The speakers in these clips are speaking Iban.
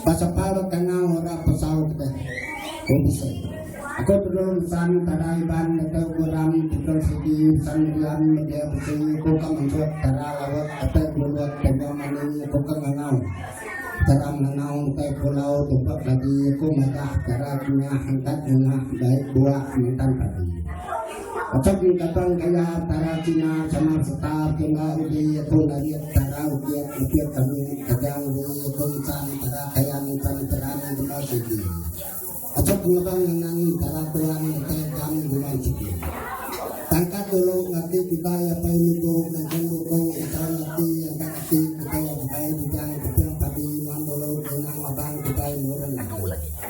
Baka pala kangau orang pesau ke Unsur. Aku perlu ngesan tara Iban deka ku ram tikel sigi ngesan rian media besi aku ka mengkut tara laut ate gelulut tengah mani aku ka ngangau. Tara ngangau engkai pulau tupa lagi aku madah tara kengah angkat ngengah baik buah mentan padi. Patut nyengkapan gaya tara Cina samar serta ke enggau uji iaitu narit tara ukit, ukit kami, kajang di iaitu insan tara kayan insan teran guna sigi. Patut ngelebang ngenang tara tuan ngetai gam guna sigi. Tangkat dulu ngerti kitai apai niku nangkan buku Insan Ati Angkat Ati kitai abai bujang kecil padi nuan dulu ngenang labang kitai murun agi.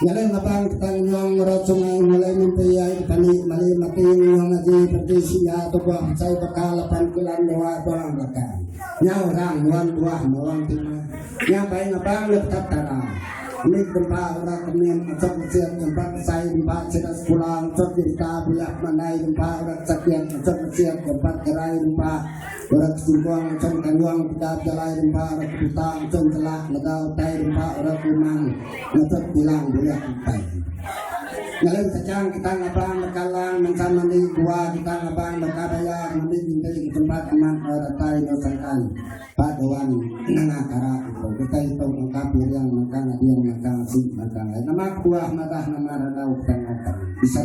Nyadi matang petang nyong ngerot sungai mulai mimpi ai petani mali mating nyong aji penti singa tu buah pecai bakal lapan kilan dua buah bakal. Nya orang nuan buah mawang tima. Nya bai ngabang le petap tara. Mit dempa orang kemin atok mecit dempa kesai dempa sida sekula atok jenta bulah mandai dempa orang sakit atok mecit dempa gerai dempa Orang ke sungkong macam kandong peda bejalai rempa orang ke putang macam celak lega utai rempa orang ke umang ngetut bilang bulik utai. Ngalai kacang kita ngabang berkalang mensan mandi dua kita ngabang berkabaya mandi minta di tempat aman orang tai nusangkan pak doan nengah kara itu kita itu mengkap yang mengkang adil mengkang si mengkang nama kuah madah nama radau tengah bisa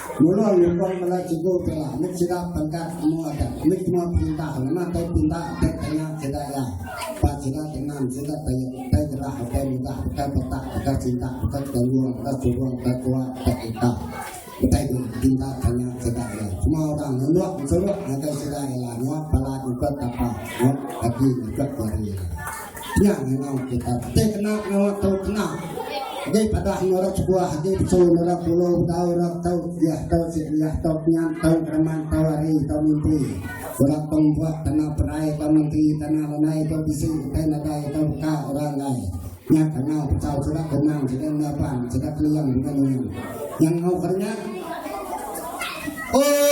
Mula nyukung bala cikgu ti nya mit sida pangkat amu adat, mit semua perintah ngena tai pinta dek tanya sida iya ba sida tengan sida tai tai gerah ukai mudah ukai petak ukai cinta ukai tanggung ukai surung ukai tua ukai kita ukai pinta tanya sida iya semua orang ngeluk ngesuruk ngagai sida iya nyuap bala nyukut tapa nyuap kaki nyukut jari. Nya ngau kita te kena ngau tau kena. Agi pada anu rak sebuah agi betul rak pulu tau rak tau dia tau si dia tau nyan tau keraman tau hari tau mimpi. Rak pembuat tanah perai tau mimpi tanah lenai tau bisi tau nadai tau ka orang lai. Nya kena tau sudah kemang sudah ngapan sudah keliang dengan ini. Yang ngau kerana Oh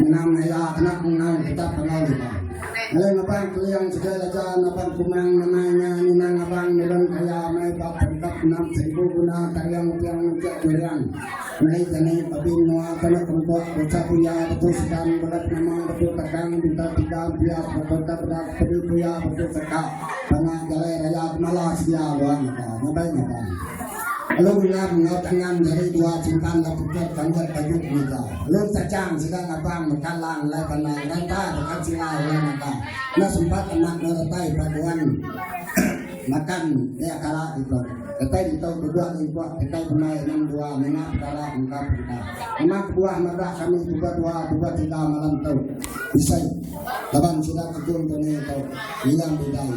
Menang aya kena menang kita pengal kita. Lain abang keliang juga aja abang kumang namanya ninang abang nurun kaya mai bab tangkap enam seribu guna tariang tiang nunjuk keliang. Mai tani tapi mua kena kumpul bocah puya betul sedang berat nama betul kadang bintang tidak dia berkota berat beri dia berkota tengah jalan raya malah sedia luar kita nyabai nyabai Alu Wilam enggau Tangan nyadi dua chimpan ba Phuket ka mbuat tajuk mega. Alu Cachang sida ngabang meka lang alai panai ngeranta deka sila ulih naga. Enda sempat amat enggau datai paguan makan iya kala ditu. Datai ditu kebuah ke ipuk kitai pemai enam dua ninga pekara mega perintah. Memang kebuah madah kami pebua dua pebua tiga malam tu. Bisai laban sida ke gung tu ni tu. Wilam Bidai.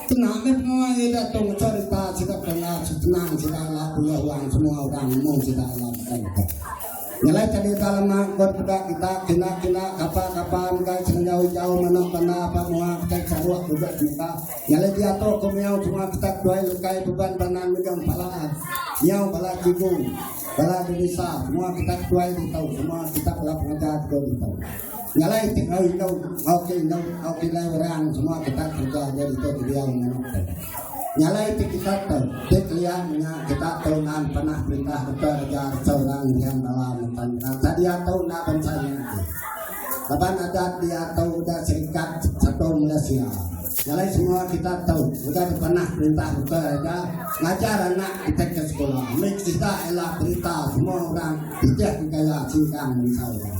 Tenang deh penua ye dak tau becerita sida penat tenang sida ila pulih wang semua orang nemu sida ila betul betul. Nyelai ke dita lema kot peda kita kina kina kapa kapa enggai senjau ijau manok banda apa mua petai saruk duduk semita. Nyelai dia tu ko miau semua petak duai lekai beban banan mejong pala miau bala cigu bala dewisa semua kita duai ditau semua kita bala pengajar ditau. Ngalai ti enggau indu, enggau ti indu, enggau ti lai orang semua kita kerja aja ditu ke dia yang nanu. Ngalai ti kita tu, ti kelia nya kita tu nan pernah perintah kita kerja seorang yang bawa mentan. Kata dia tu nak bangsa yang tu. Laban ada dia tu udah serikat satu Malaysia. Ngalai semua kita tu udah pernah perintah kita kerja ngajar anak kita ke sekolah. Mereka kita ialah berita semua orang tidak kaya singkang bangsa orang.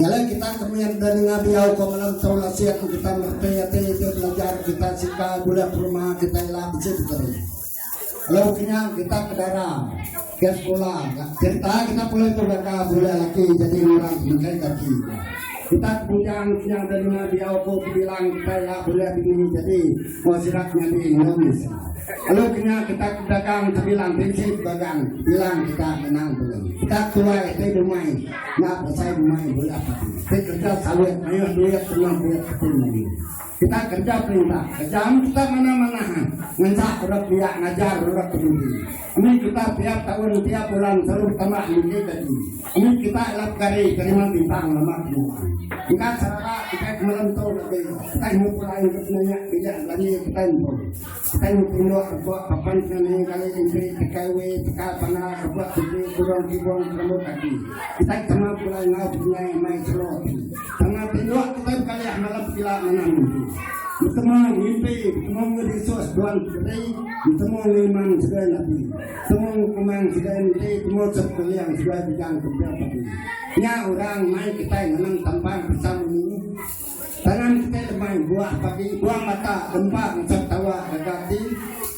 Nyalai kita ke mih enda ninga diau ko malam tau lasing kita mertai ati iti belajar kita sika gula peruma kita ila besi peteri. Lalu kena kita ke dara ke sekolah kita kita boleh tu baka boleh laki jadi orang makan kaki. Kita kemudian kena ada ninga diau ko bilang kita ila boleh begini jadi masyarakat nyadi ngomis. Lalu kena kita dagang terbilang prinsip dagang bilang kita menang dulu. Kita tuai itu dumai. Nya pasal memaik bola kaki. Kita kerja sawit, mayuh duit, senang duit kaki lagi. Kita kerja perintah, kerja am kita mana-mana. Ha. Ngencak orang biak ngajar orang peduli. Ini kita tiap tahun, tiap bulan, terus tambah lagi lagi. Ini kita lap kari, kerima bintang, lemak semua. Kita serah, kita kemelentur lagi. Kita ngumpul air, kita nanya, kita lagi, kita ngumpul. Tang puluk rebok papan kena nengah kali kempi tekai we teka panda rebok kempi kurong kibong kelembu kaki. Kitai tama pulai enggau penyai mai selo ati. Tama tinduk kitai bekalih malam pekila manah mimpi. Betemu mimpi, betemu ngerisus tuan peteri, betemu ngiman segai napi. Temu ngukumang segai menti, temu sepkeliang segai bidang kempil pati. Nya orang mai kitai ngenang tambang pisang meni. Tangan kitai lemai buah pagi buang mata gempa ngecap tawa gaga ati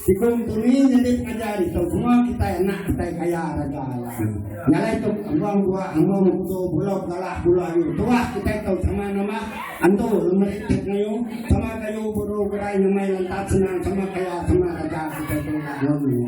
tikung tuni nyadi pengajar ditu semua kitai anak kitai kaya raja alai nyalai tu among buah among utu bulu galah bulu ayu tuah kitai tu sama nama antu lemeri ti pengayu sama kayu buru gerai nyamai lantap senang sama kaya sama raja kitai tu ila ngun nya.